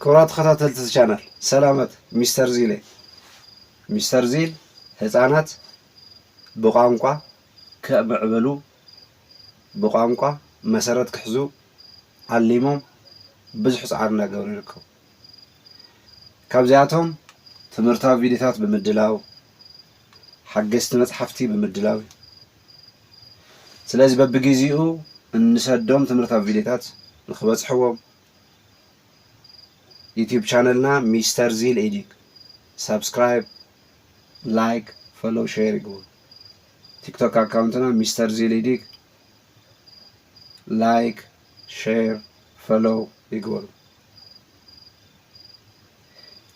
ክብራት ተኸታተልቲ እዚ ቻናል ሰላመት ሚስተር ዚል እየ ሚስተር ዚል ህፃናት ብቋንቋ ክዕምዕብሉ ብቋንቋ መሰረት ክሕዙ ዓሊሞም ብዙሕ ፃዕሪ እናገበሩ ይርከቡ ካብዚኣቶም ትምህርታዊ ቪዲዮታት ብምድላው ሓገዝቲ መፅሓፍቲ ብምድላው እዩ ስለዚ በብግዜኡ እንሰዶም ትምህርታዊ ቪዲዮታት ንክበፅሕዎም ዩቱብ ቻነልና ሚስተር ዚል ኤዲት ሳብስክራይብ ላይክ ፈሎ ሼር ይግቡ። ቲክቶክ ኣካውንትና ሚስተር ዚል ኤዲት ላይክ ሼር ፈሎ ይግበሩ።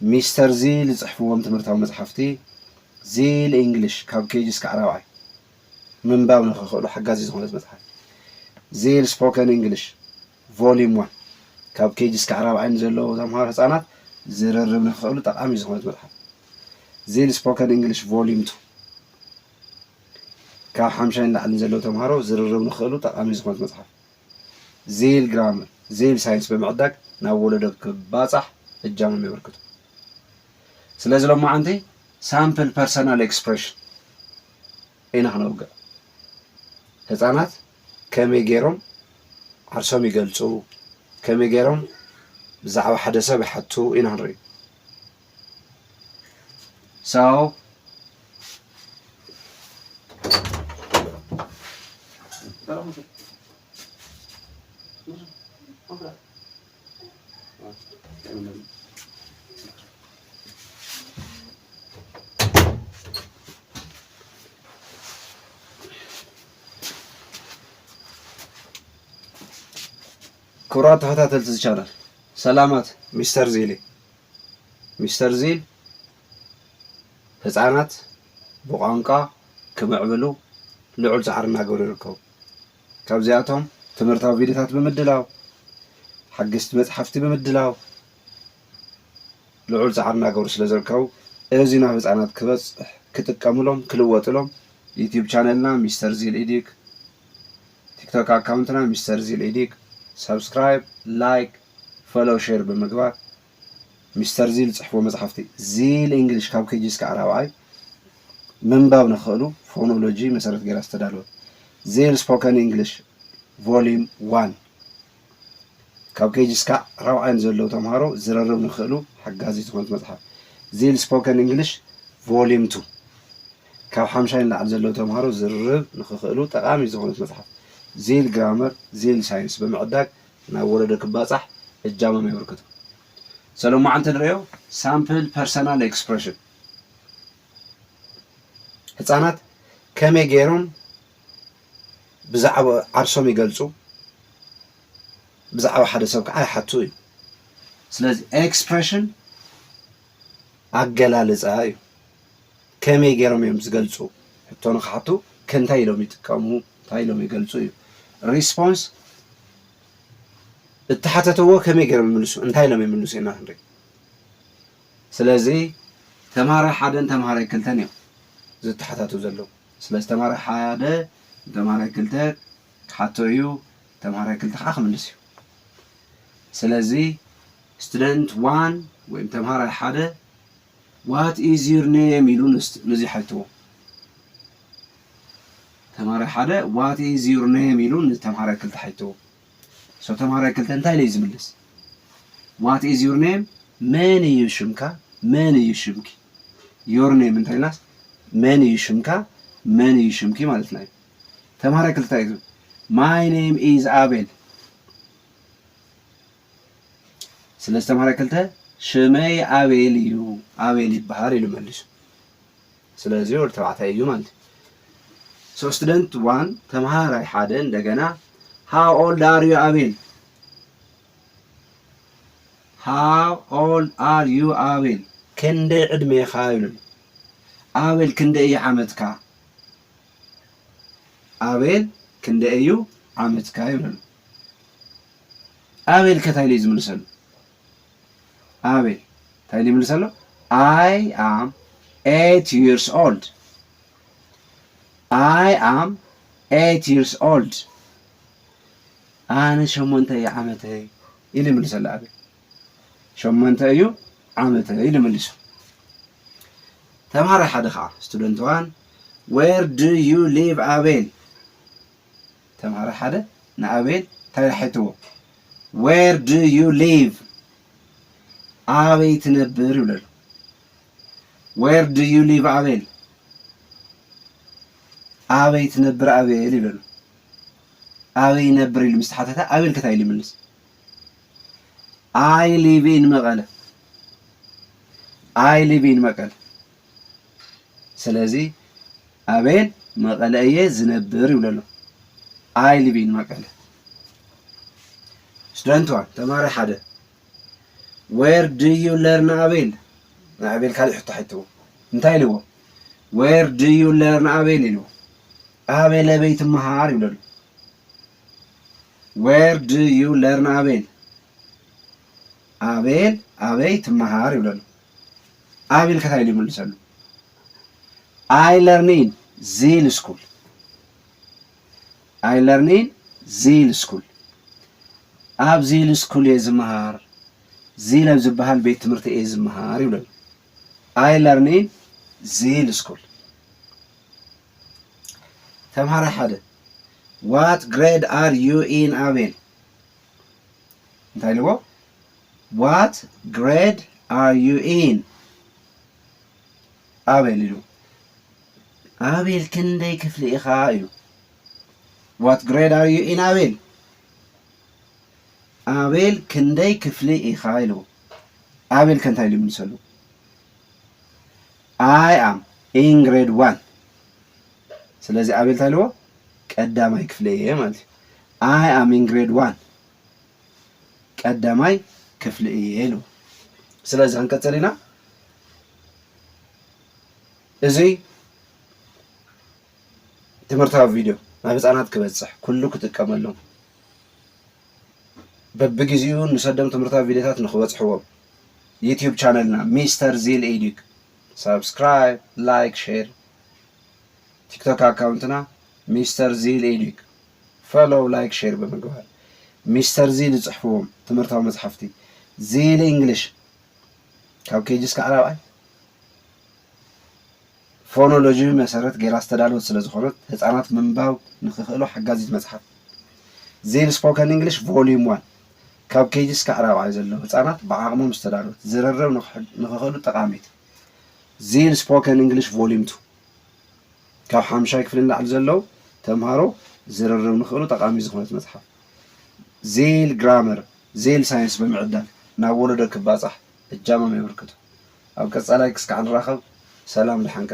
ሚስተር ዚል ዝፅሕፍዎም ትምህርታዊ መፅሓፍቲ ዚል እንግሊሽ ካብ ኬጂ እስካዕ ራብዓይ ምንባብ ንክኽእሉ ሓጋዚ ዝኾነት መፅሓፍ ዚል ስፖከን እንግሊሽ ቮሊዩም ዋን፣ ካብ ኬጂ እስካዕ ራብዓይ ንዘለዉ ተምሃሮ ህጻናት ዝርርብ ንክኽእሉ ጠቓሚት ዝኾነት መጽሓፍ። ዚል ስፖከን እንግሊሽ ቮሊዩም ቱ፣ ካብ ሓምሻይ ንላዕሊ ንዘለዉ ተምሃሮ ዝርርብ ንክኽእሉ ጠቓሚት ዝኾነት መጽሓፍ። ዚል ግራመር፣ ዚል ሳይንስ ብምዕዳግ ናብ ወለዶ ክባጻሕ እጃሞም የበርክቱ። ስለዚ ሎማዓንቲ ሳምፕል ፐርሰናል ኤክስፕረሽን ኢና ክነውግዕ። ህጻናት ከመይ ገይሮም ዓርሶም ይገልጹ፣ ከመይ ገይሮም ብዛዕባ ሓደ ሰብ ይሓቱ ኢና ክንርኢ። So Pero, ክቡራት ተኸታተልቲ ዝቻናል ሰላማት ሚስተር ዜል ሚስተር ዜል ህፃናት ብቋንቋ ክምዕብሉ ልዑል ፃዕሪ እናገበሩ ይርከቡ ካብዚኣቶም ትምህርታዊ ቪድዮታት ብምድላው፣ ሓገዝቲ መጽሓፍቲ ብምድላው ልዑል ጻዕሪ እናገበሩ ስለ ዝርከቡ እዚ ናብ ህጻናት ክበጽሕ ክጥቀምሎም ክልወጥሎም ዩትዩብ ቻነልና ሚስተር ዚል ኢዲክ ቲክቶክ ኣካውንትና ሚስተር ዚል ኢዲክ ሳብስክራይብ ላይክ ፈሎው ሼር ብምግባር ሚስተር ዚል ዝጽሕፎ መጽሓፍቲ ዚል ኢንግሊሽ ካብ ኬጂ እስካዕ ራብዓይ ምንባብ ንክኽእሉ ፎኖሎጂ መሰረት ገይራ ዝተዳለወት ዚል ስፖከን ኢንግሊሽ ቮሊም ዋን ካብ ኬጂ እስካዕ ራብዓይ ንዘለዉ ተምሃሮ ዝርርብ ንክኽእሉ ሓጋዚት ዝኾነት መጽሓፍ ዚል ስፖከን ኢንግሊሽ ቮሊም ቱ ካብ ሓምሻይ ንላዕሊ ዘለዉ ተምሃሮ ዝርርብ ንክኽእሉ ጠቓሚ ዝኾነት መጽሓፍ ዚል ግራመር ዚል ሳይንስ ብምዕዳግ ናብ ወለዶ ክባጻሕ እጃሞም የበርክቱ። ሰለሞዓንቲ ንርእዮ ሳምፕል ፐርሰናል ኤክስፕረሽን ህጻናት ከመይ ገይሮም ብዛዕባ ዓርሶም ይገልጹ፣ ብዛዕባ ሓደ ሰብ ከዓ ይሓቱ እዩ። ስለዚ ኤክስፕረሽን ኣገላልጻ እዩ። ከመይ ገይሮም እዮም ዝገልጹ? ሕቶ ንኽሓቱ ከእንታይ ኢሎም ይጥቀሙ፣ እንታይ ኢሎም ይገልጹ እዩ። Response እተሓተተዎ ከመይ ገይሮም ይምልሱ፣ እንታይ ኢሎም ይምልሱ ኢና ክንርኢ። ስለዚ ተምሃራይ ሓደን ተምሃራይ ክልተን እዮም ዝተሓታቱ ዘለዉ። ስለዚ ተምሃራይ ሓደ ንተምሃራይ ክልተ ክሓቶ እዩ፣ ተምሃራይ ክልተ ከዓ ክምልስ እዩ። ስለዚ ስቱደንት ዋን ወይም ተምሃራይ ሓደ ዋት ኢዝ ዩር ኔም ኢሉ ንዚሐልትዎ ተምሃራይ ሓደ ዋት ኢዝ ዩር ኔም ኢሉ ንተምሃራይ ክልተ ሐልትዎ ሶ ተምሃራይ ክልተ እንታይ ኢለዩ ዝምልስ ዋት ኢዝ ዩር ኔም መን እዩ ሽምካ መን እዩ ሽምኪ ዮር ኔም እንታይ ኢልናስ መን እዩ ሽምካ መን እዩ ሽምኪ ማለትና እዩ ተምሃራይ ክልተ እዩ ማይ ኔም ኢዝ ኣቤል ስለ ዝተማህረ ክልተ ሽመይ ኣቤል እዩ ኣቤል ይበሃል ኢሉ መሊሱ ስለዚ ወዲ ተባዕታይ እዩ ማለት ሶ ስቱደንት ዋን ተምሃራይ ሓደ እንደገና ሃው ኦልድ ኣር ዩ ኣቤል ሃው ኦልድ ኣር ዩ ኣቤል ክንደይ ዕድሜኻ ይብሉ ኣቤል ክንደይ እዩ ዓመትካ ኣቤል ክንደይ እዩ ዓመትካ ይብሉ ኣቤል ከ ታይ ኢሉ እዩ ዝምልሰሉ ኣቤል ታይ ኢሉ ይምልሰሉ ኣይ ኣም ኤት ይርስ ኦልድ ኣይ ኣም ኤት ይርስ ኦልድ ኣነ ሸሞንተ እዩ ዓመተይ ኢሉ ይምልሰሉ ኣቤል ሸሞንተ እዩ ዓመተይ ኢሉ ምልሱ ተምሃራይ ሓደ ከዓ ስቱደንት ዋን ዌር ዱ ዩ ሊቭ ኣቤል ተምሃራይ ሓደ ንኣቤል እንታይ ኢሉ ሓቲትዎ? Where do you live? ኣበይ ትነብር ይብሎ ኣሎ። Where do you live ኣቤል? ኣበይ ትነብር ኣቤል ይብሎ ኣሎ። ኣበይ ይነብር ኢሉ ምስ ተሓተተ ኣቤል ከ እንታይ ኢሉ ይምልስ? I live in መቐለ። I live in መቀለ። ስለዚ ኣቤል መቐለ እየ ዝነብር ይብሎ ኣሎ ኣይ ሊቪን መቀለ ስቱደንት ዋን ተማሪ ሓደ ዌር ድዩ ለርን ኣቤል ናይ ኣቤል ካልእ ሕቶ ሓይትዎ እንታይ ኢልዎ ዌር ድዩ ለርን ኣቤል ኢልዎ ኣቤል ኣበይ ትመሃር ይብሎ ኣሎ ዌር ድዩ ለርን ኣቤል ኣቤል ኣበይ ትመሃር ይብሎ ኣሎ ኣብ ኢልካ እንታይ ኢሉ ይምልሰሉ ኣይ ለርኒን ዚል ስኩል ኣይ ለርኒን ዚል ስኩል ኣብ ዚል ስኩል እየ ዝመሃር ዚል ኣብ ዝበሃል ቤት ትምህርቲ እየ ዝመሃር ይብለሉ ኣይ ለርኒን ዚል ስኩል ተምሃራይ ሓደ ዋት ግሬድ ኣር ዩ ኢን ኣቤል እንታይ ኢልዎ ዋት ግሬድ ኣር ዩ ኢን ኣቤል ኢሉ ኣቤል ክንደይ ክፍሊ ኢኻ ኢሉ ዋት ግሬድ ኣር ዩ ኢን ኣቤል ኣቤል ክንደይ ክፍሊ ኢኻ ኢልዎ ኣቤል ከንታይ ኢሉ ይምልሰሉ ኣይ ኣም ኢን ግሬድ ዋን ስለዚ ኣቤል እንታይ ኢልዎ ቀዳማይ ክፍሊ እየ ማለት እዩ ኣይ ኣም ኢን ግሬድ ዋን ቀዳማይ ክፍሊ እየ ኢሉ ስለዚ ክንቅጽል ኢና እዚ ትምህርታዊ ቪድዮ ናብ ህፃናት ክበፅሕ ኩሉ ክጥቀመሎም በብግዜኡ ንሰዶም ትምህርታዊ ቪድዮታት ንክበፅሕዎም ዩትዩብ ቻነልና ሚስተር ዚል ኤዲክ ሳብስክራይብ ላይክ ሼር ቲክቶክ ኣካውንትና ሚስተር ዚል ኤዲክ ፎሎው ላይክ ሼር ብምግባር ሚስተር ዚሊ ዝጽሕፍዎም ትምህርታዊ መጽሓፍቲ ዚሊ እንግሊሽ ካብ ኬጂ እስካዕ ራብዓይ ፎኖሎጂ መሰረት ጌራ ዝተዳለወት ስለ ዝኾነት ህፃናት ምንባብ ንክኽእሉ ሓጋዚት መፅሓፍ ዜል ስፖከን እንግሊሽ ቮሊዩም ዋን ካብ ኬጂ እስካዕ ራብዓይ ዘለዉ ህፃናት ብዓቕሞም ዝተዳለወት ዝርርብ ንክኽእሉ ጠቃሚት ዚል ስፖከን እንግሊሽ ቮሊዩም ቱ ካብ ሓምሻይ ክፍሊ ንላዕሊ ዘለዉ ተምሃሮ ዝርርብ ንክእሉ ጠቓሚ ዝኾነት መጽሓፍ ዜል ግራመር ዜል ሳይንስ ብምዕዳል ናብ ወለዶ ክባጻሕ እጃሞም የበርክቱ። ኣብ ቀጻላይ ክስካዕ ንራኸብ ሰላም ድሓን ቀጽሉ።